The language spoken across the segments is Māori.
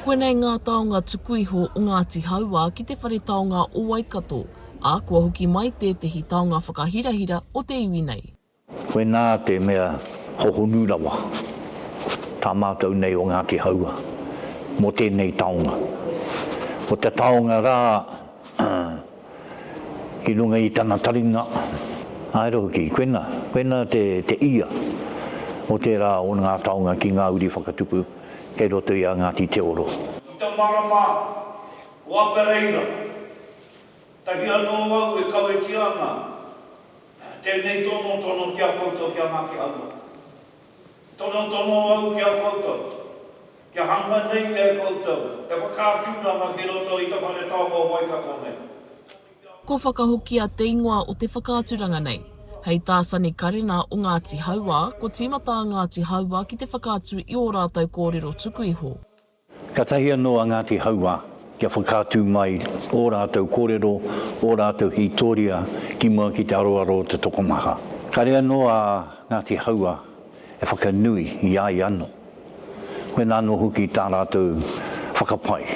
Koinei ngā taonga tuku iho o Ngāti Hauā ki te whare taonga o Waikato, ā, kua hoki mai tētehi taonga whakahirahira o te iwi nei. Koinā te mea hohonu rawa tā mātou nei o Ngāti Hauā mō tēnei taonga. Ko te taonga rā. ki runga i tana taringa, ā, ero hoki, koina, koina te, te ia o tērā o ngā taonga ki ngā uri whakatupu kei roto i a Ngāti Te Oro. Ki te marama o Apereira, tahi anō au e kawetia ana tēnei tonotono ki a koutou ki a Ngāti Hauā. Tonotono au ki a koutou, kia hanga nei e koutou he whakaaturanga ki roto i te Whare Taonga o Waikato nei. Ko Whakahokia te ingoa o te whakaaturanga nei. Hei tā Sani Karena o Ngāti Hauā, ko tīmata a Ngāti Hauā ki te whakaatu i ō rātou kōrero tuku iho. Katahi anō a Ngāti Hauā kia whakaatu mai ō rātou kōrero, ō rātou hītoria ki mua ki te aroaro o te tokomaha. Kāre anō a Ngāti Hauā e whakanui i a ia anō, koinā anō hoki tā rātou whakapae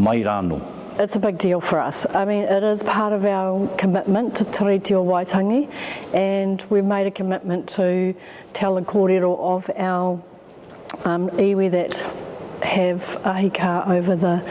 mai rānō. It's a big deal for us. I mean, it is part of our commitment to Te Rīti o Waitangi and we've made a commitment to tell the kōrero of our Um iwi that have ahikā over the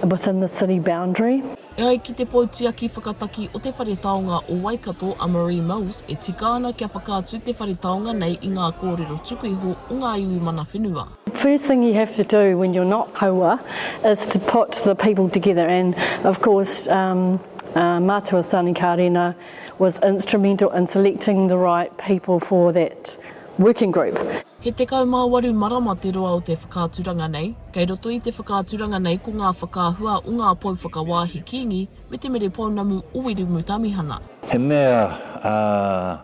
within the city boundary. E ai ki te Poutiaki Whakataki o te Whare Taonga o Waikato a Marie Mills, e tika ana kia whakaatu te whare taonga nei i ngā kōrero tuku iho o ngā iwi mana whenua. First thing you have to do when you're not haua is to put the people together and of course um uh Matua Sani Karena was instrumental in selecting the right people for that working group. He 18 marama te roa o te whakaaturanga nei. Kei roto i te whakaaturanga nei ko ngā whakaahua o ngā pou whakawāhi Kīngi me te mere pounamu o Wiremu Tamihana. He mea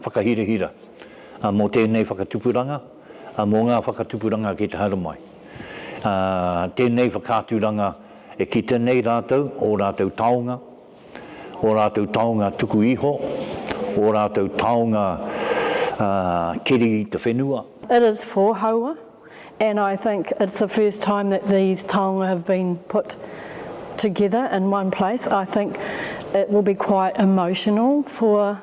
whakahirahira mō tēnei whakatupuranga, mō ngā whakatupuranga ki te haere mai. Tēnei whakaaturanga e kite nei rātou, ō rātou taonga, ō rātou taonga tuku iho, ō rātou taonga keri i te whenua. It is for Haua and I think it's the first time that these taonga have been put together in one place. I think it will be quite emotional for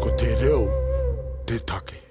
Ko te reo te take.